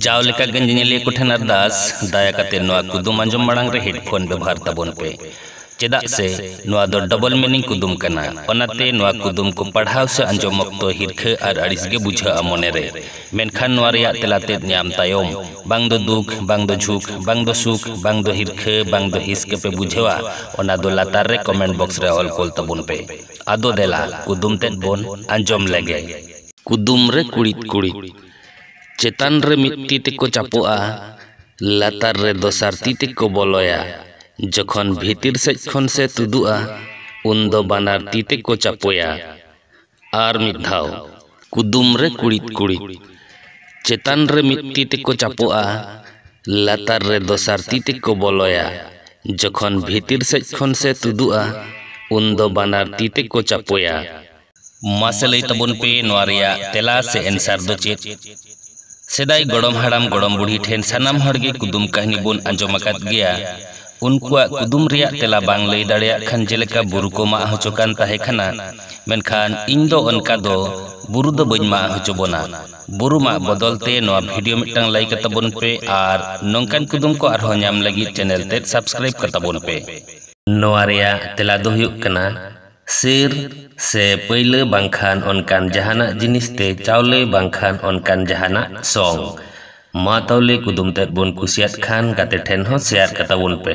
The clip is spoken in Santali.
ᱡᱟᱣ ᱞᱮᱠᱟ ᱜᱮ ᱧᱮᱧᱮᱞᱤᱭᱟᱹ ᱠᱚ ᱴᱷᱮᱱ ᱟᱨᱫᱟᱥ, ᱫᱟᱭᱟ ᱠᱟᱛᱮ ᱱᱚᱣᱟ ᱠᱩᱫᱩᱢ ᱟᱸᱡᱚᱢ ᱢᱟᱲᱟᱝ ᱨᱮ ᱦᱮᱰᱯᱷᱳᱱ ᱵᱮᱵᱷᱟᱨ ᱛᱟᱵᱚᱱ ᱯᱮ, ᱪᱮᱫᱟᱜ ᱥᱮ ᱱᱚᱣᱟ ᱫᱚ ᱰᱚᱵᱚᱞ ᱢᱤᱱᱤᱝ ᱠᱩᱫᱩᱢ ᱠᱟᱱᱟ᱾ ᱚᱱᱟᱛᱮ ᱱᱚᱣᱟ ᱠᱩᱫᱩᱢ ᱠᱚ ᱯᱟᱲᱦᱟᱣ ᱥᱮ ᱟᱸᱡᱚᱢ ᱚᱠᱛᱚ ᱦᱤᱨᱠᱷᱟᱹ ᱟᱨ ᱟᱹᱲᱤᱥ ᱜᱮ ᱵᱩᱡᱷᱟᱹᱜᱼᱟ ᱢᱚᱱᱮ ᱨᱮ᱾ ᱢᱮᱱᱠᱷᱟᱱ ᱱᱚᱣᱟ ᱨᱮᱭᱟᱜ ᱛᱮᱞᱟ ᱛᱮᱫ ᱧᱟᱢ ᱛᱟᱭᱚᱢ, ᱵᱟᱝ ᱫᱚ ᱫᱩᱠ, ᱵᱟᱝ ᱫᱚ ᱡᱷᱩᱠ, ᱵᱟᱝ ᱫᱚ ᱥᱩᱠ, ᱵᱟᱝ ᱫᱚ ᱦᱤᱨᱠᱷᱟᱹ, ᱵᱟᱝ ᱫᱚ ᱦᱤᱸᱥ ᱜᱮ ᱯᱮ ᱵᱩᱡᱷᱟᱹᱣᱟ, ᱚᱱᱟ ᱫᱚ ᱞᱟᱛᱟᱨ ᱨᱮ ᱠᱚᱢᱮᱱᱴ ᱵᱚᱠᱥ ᱨᱮ ᱚᱞ ᱠᱳᱞ ᱛᱟᱵᱚᱱ ᱯᱮ᱾ ᱟᱫᱚ ᱫᱮᱞᱟ ᱠᱩᱫᱩᱢ ᱛᱮᱫ ᱵᱚᱱ ᱟᱸᱡᱚᱢ ᱞᱮᱜᱮ᱾ ᱠᱩᱫᱩᱢ ᱨᱮ ᱠᱩᱲᱤᱫ ᱠᱩᱲᱤᱫ᱾ ᱪᱮᱛᱟᱱ ᱨᱮ ᱢᱤᱫ ᱛᱤ ᱛᱮᱠᱚ ᱪᱟᱯᱚᱜᱼᱟ ᱞᱟᱛᱟᱨ ᱨᱮ ᱫᱚᱥᱟᱨ ᱛᱤ ᱛᱮᱠᱚ ᱵᱚᱞᱚᱭᱟ ᱡᱚᱠᱷᱚᱱ ᱵᱷᱤᱛᱤᱨ ᱥᱮᱡ ᱠᱷᱚᱱ ᱥᱮ ᱛᱩᱫᱩᱜᱼᱟ ᱩᱱ ᱫᱚ ᱵᱟᱱᱟᱨ ᱛᱤ ᱛᱮᱠᱚ ᱪᱟᱯᱚᱭᱟ ᱟᱨ ᱢᱤᱫ ᱫᱷᱟᱣ ᱠᱩᱫᱩᱢ ᱨᱮ ᱠᱩᱲᱤᱫ ᱠᱩᱲᱤᱫ ᱪᱮᱛᱟᱱ ᱨᱮ ᱢᱤᱫ ᱛᱤ ᱛᱮᱠᱚ ᱪᱟᱯᱚᱜᱼᱟ ᱞᱟᱛᱟᱨ ᱨᱮ ᱫᱚᱥᱟᱨ ᱛᱤ ᱛᱮᱠᱚ ᱵᱚᱞᱚᱭᱟ ᱡᱚᱠᱷᱚᱱ ᱵᱷᱤᱛᱤᱨ ᱥᱮᱡ ᱠᱷᱚᱱ ᱥᱮ ᱛᱩᱫᱩᱜᱼᱟ ᱩᱱ ᱫᱚ ᱵᱟᱱᱟᱨ ᱛᱤ ᱛᱮᱠᱚ ᱪᱟᱯᱚᱭᱟ ᱢᱟᱥᱮ ᱞᱟᱹᱭ ᱛᱟᱵᱚᱱ ᱯᱮ ᱱᱚᱣᱟ ᱨᱮᱭᱟᱜ ᱛᱮᱞᱟ ᱥᱮ ᱮᱱᱥᱟᱨ ᱫᱚ ᱪᱮᱫ? ᱥᱮᱫᱟᱭ ᱜᱚᱲᱚᱢ ᱦᱟᱲᱟᱢ ᱜᱚᱲᱚᱢ ᱵᱩᱰᱷᱤ ᱴᱷᱮᱱ ᱥᱟᱱᱟᱢ ᱦᱚᱲ ᱜᱮ ᱠᱩᱫᱩᱢ ᱠᱟᱹᱦᱱᱤ ᱵᱚᱱ ᱟᱸᱡᱚᱢ ᱟᱠᱟᱫ ᱜᱮᱭᱟ᱾ ᱩᱱᱠᱩᱣᱟᱜ ᱠᱩᱫᱩᱢ ᱨᱮᱭᱟᱜ ᱛᱮᱞᱟ ᱵᱟᱝ ᱞᱟᱹᱭ ᱫᱟᱲᱮᱭᱟᱜ ᱠᱷᱟᱱ ᱡᱮᱞᱮᱠᱟ ᱵᱩᱨᱩ ᱠᱚ ᱢᱟᱜ ᱦᱚᱪᱚ ᱠᱟᱱ ᱛᱟᱦᱮᱸ ᱠᱟᱱᱟ ᱢᱮᱱᱠᱷᱟᱱ ᱤᱧ ᱫᱚ ᱚᱱᱠᱟ ᱫᱚ ᱵᱩᱨᱩ ᱫᱚ ᱵᱟᱹᱧ ᱢᱟᱜ ᱦᱚᱪᱚ ᱵᱚᱱᱟ᱾ ᱵᱩᱨᱩ ᱢᱟᱜ ᱵᱚᱫᱚᱞ ᱛᱮ ᱱᱚᱣᱟ ᱵᱷᱤᱰᱤᱭᱳ ᱢᱤᱫᱴᱟᱝ ᱞᱟᱭᱤᱠ ᱟᱛᱟᱵᱚᱱ ᱯᱮ ᱟᱨ ᱱᱚᱝᱠᱟᱱ ᱠᱩᱫᱩᱢ ᱠᱚ ᱟᱨᱦᱚᱸ ᱧᱟᱢ ᱞᱟᱹᱜᱤᱫ ᱪᱮᱱᱮᱞ ᱛᱮᱫ ᱥᱟᱵᱥᱠᱨᱟᱭᱤᱵ ᱠᱟᱛᱟᱵᱚᱱ ᱯᱮ᱾ ᱱᱚᱣᱟ ᱨᱮᱭᱟᱜ ᱛᱮᱞᱟ ᱫᱚ ᱦᱩᱭᱩᱜ ᱠᱟᱱᱟ᱾ ᱥᱤᱨ ᱥᱮ ᱯᱟᱹᱭᱞᱟᱹ ᱵᱟᱝᱠᱷᱟᱱ ᱚᱱᱠᱟᱱ ᱡᱟᱦᱟᱱᱟᱜ ᱡᱤᱱᱤᱥ ᱛᱮ ᱪᱟᱣᱞᱮ ᱵᱟᱝᱠᱷᱟᱱ ᱚᱱᱠᱟᱱ ᱡᱟᱦᱟᱱᱟᱜ ᱥᱚᱝ ᱢᱟ ᱛᱟᱣᱞᱮ ᱠᱩᱫᱩᱢ ᱛᱮᱫ ᱵᱚᱱ ᱠᱩᱥᱤᱭᱟᱫ ᱠᱷᱟᱱ ᱜᱟᱛᱮ ᱴᱷᱮᱱ ᱦᱚᱸ ᱥᱮᱭᱟᱨ ᱠᱟᱛᱟ ᱵᱚᱱ ᱯᱮ